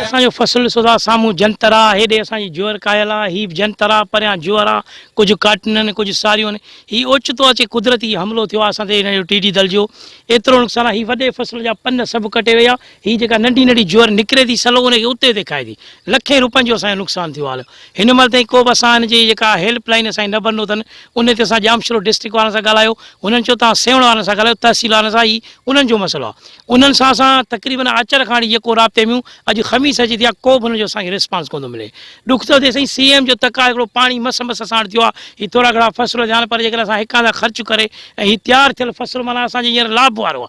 اسان جو فصل ڏسو ٿا سامهون جنتر آ هيڏي اسان جي جوئر ڪاهيل آ هي به جنتر آ پريان جوئر آ ڪجهه ڪاٽن آهن ڪجهه ساريون آهن هي اوچتو اچي قدرتي حملو ٿيو آ اسان تي هن جو ٽي ڊي دل جو ايترو نقصان آ هي وڏي فصل جا پن سڀ ڪٽي ويا هي جيڪا ننڍي ننڍي جوئر نڪري ٿي سلو ان کي اتي اتي کائي ٿي لکين روپين جو اسان جو نقصان ٿيو آ هن مهل تائين ڪو به اسان ان جي جيڪا هيلپ لائين اسان جي نه بنو اٿن ان تي اسان ڄامشورو ڊسٽرڪٽ وارن سان ڳالهايو هنن چيو توهان سيوهڻ وارن سان ڳالهايو تحصيل وارن سان هي انهن جو مسئلو آ انهن سان اسان تقريبن آچر کان يڪو رابطي ميون اڄ خميس اچي ٿي آ ڪو به ان جو اسان کي ريسپانس ڪون ٿو ملي ڏک ٿو ٿئي سائين سي ايم جو تڪ آ هڪڙو پاڻي مس مس اسان وٽ ٿيو آ هي ٿورا گهڻا فصل ٿيا آن پر جيڪڏهن اسان هڪ هنڌ کان خرچ ڪري ۽ هي تيار ٿيل فصل معنيٰ اسان جي هينئر لاب وارو آ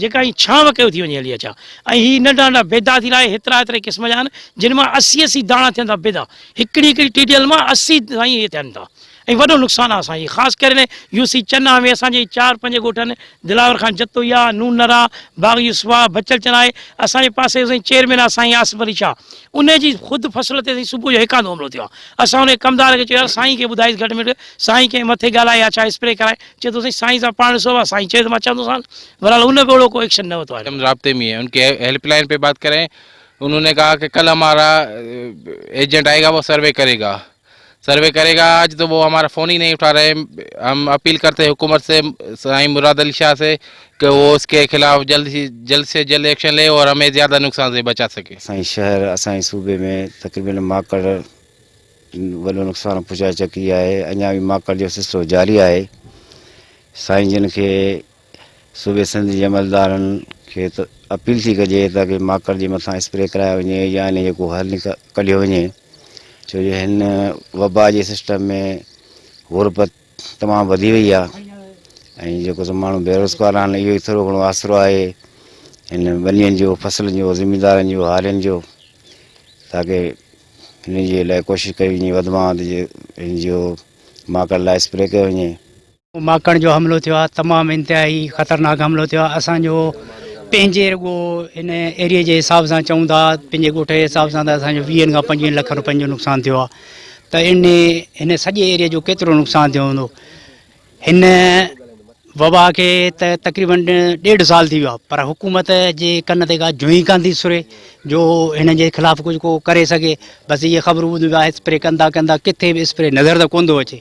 جيڪا ائين ڇانو ڪيو ٿي وڃي هلي اچان ۽ هي ننڍا ننڍا بيدا ٿي لاهي هيترا هيتري قسم جا آهن جن مان اسي اسي داڻا ٿين ٿا بيدا هڪڙي هڪڙي ٽيڊيل مان اسي سائين هي ٿين ٿا ۽ وڏو نقصان آهي اسان جي خاص ڪري نه يو سي چنا ۾ اسان جي چار پنج ڳوٺن دلاور خان جتوئيا نون نرا باغ يوسفا بچل چنا آهي اسان جي پاسي سائين چيئرمين آهي سائين آصف علي شاهه ان جي خود فصل تي سائين صبح جو هيڪاندو حملو ٿيو آهي اسان ان ڪمدار کي چيو يار سائين کي ٻڌائيس گهٽ ميٺ سائين ڪنهن مٿي ڳالهائي يا ڇا اسپري ڪرائي چئي ٿو سائين سائين سان پاڻ سوا سائين چئي ته مان چوندو سان برحال ان به اهڙو ڪو ايڪشن نه ورتو آهي. رابطي مي هي ان ڪي هيلپ لائن پي بات ڪرين انهون ني ڪها ڪه ڪل همارا ايجنٽ آئي گا وو سروي ڪري گا سروي ڪري گا آج تو وو همارا فون هي نهي اٺا رهي هم اپيل ڪرتي حڪومت سي سائين مراد علي شاه سي ڪه وو اس ڪي خلاف جلد سي جلد سي جلد ايڪشن لي اور همي زياده نقصان سي بچا سڪي. اسان جي شهر اسان جي صوبي ۾ تقريبن ماڪڙ. وڏو نقصان پھچائي چڪي آھي اڃا به ماڪٽ جو سلسلو جاري آھي سائين جن کي صوبي سنڌ جي عملدارن کي اپيل ٿي ڪجي ته ڪي ماڪٽ جي مٿان اسپري ڪرايو وڃي يا ان جو ڪو حل ڪڍيو وڃي ڇو جو هن وبا جي سسٽم ۾ غربت تمام وڌي وئي آ ۽ جيڪو سو ماڻهو بيروزگار آهن اهو ئي ٿورو گهڻو آسرو آهي ان ٻنين جو فصلن جو زميندارن جو هارين جو تاڪي انهي جي لاء ڪوشش ڪئي وڃي وڌ مان وڌ ان جو ماڪڙ لاء اسپري ڪيو وڃي. ماڪڙ جو حملو ٿيو آهي تمام انتهائي خطرناڪ حملو ٿيو آهي اسان جو پنهنجي رڳو ان ايريي جي حساب سان چئون ٿا پنهنجي ڳوٺ جي حساب سان ته اسان جو ويهن کان پنجويهن لک روپين جو نقصان ٿيو آهي ته ان هن سڄي ايريي جو ڪيترو نقصان ٿيو هوندو هن وبا کي ته تقريبن ڏيڍ سال ٿي ويو آهي پر حڪومت جي ڪن تي ڪا جونهي ڪانه ٿي سري جو هن جي خلاف ڪجهه ڪو ڪري سگهي بس اهي خبرون ٻڌون پيا اسپري ڪن ٿا ڪن ٿا ڪٿي به اسپري نظر ته ڪونه ٿو اچي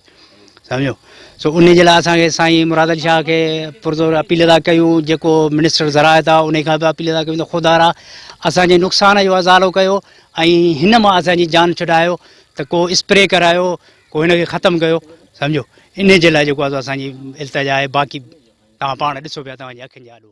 سمجهو سو ان جي لاء اسان کي سائين مراد علي شاهه کي پرزور اپيل ادا ڪيون جيڪو منسٽر ذرائع ٿا ان کان به اپيل ادا ڪيون ته خدارا اسانجي نقصان جو ازالو ڪيو ۽ هن مان اسانجي جان ڇڏايو ته ڪو اسپري ڪرايو ڪو هن کي ختم ڪيو سمجهو انهي جي لاء جيڪو اسان جي التجا آهي باقي توهان پاڻ ڏسو پيا توهان جي اکين جي آڏو.